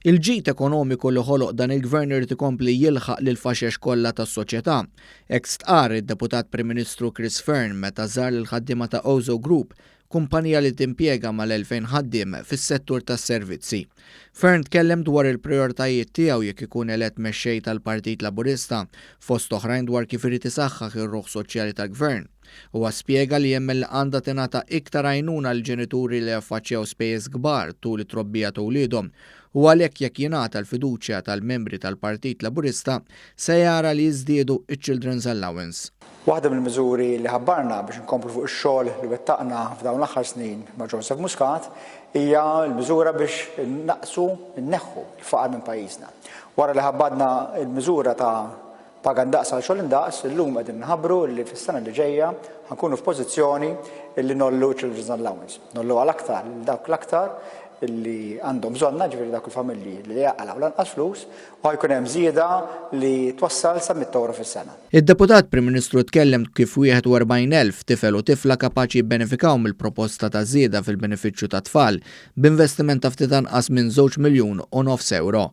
Il-ġid ekonomiku li ħoloq dan il-Gvern irid ikompli jilħaq lill-faxex kollha tas-soċjetà. Hekk stqarr id-Deputat Prim Ministru Chris Fearne meta żar lill-ħaddiema ta' Ozo Group, kumpanija li timpjega mal-2,000 ħaddiem fis-settur tas-servizzi. Fearne tkellem dwar il-prijoritajiet tiegħu jekk ikun elett Mexxej tal-Partit Laburista, fost oħrajn dwar kif irid isaħħaħ ir-ruħ soċjali tal-Gvern. Huwa spjega li jemmen li għandha tingħata iktar għajnuna lill-ġenituri li jaffaċċjaw spejjeż kbar tul it-trobbija ta' uliedhom u għalhekk jekk jingħata l-fiduċja tal-membri tal-Partit Laburista se jara li jiżdiedu ċ-Children's Allowance. Waħda mill-miżuri li ħabbarna biex inkomplu fuq ix-xogħol li wettaqna f'dawn l-aħħar snin ma' Joseph Muscat hija l-miżura biex innaqqsu, inneħħu, l-faqar minn pajjiżna. Wara li ħabbadna l-miżura ta' Paga ndaqs għal xogħol indaqs, illum qegħdin nħabbru li fis-sena li ġejja ħa nkunu f'pożizzjoni li ngħollu ċ-Children's Allowance. Ngħolluha l-aktar lil dawk l-aktar li għandhom bżonnha, ġifieri dawk il-familji li jaqalgħu l-anqas flus, u ħa jkun hemm żieda li twassal sa mitt ewro fis-sena. Id-Deputat Prim Ministru tkellem kif 41 elf tifel u tifla kapaċi jibbenefikaw mill-proposta ta' żieda fil-benefiċċju tat-tfal, b'investiment ta' ftit anqas minn żewġ miljun u nofs ewro.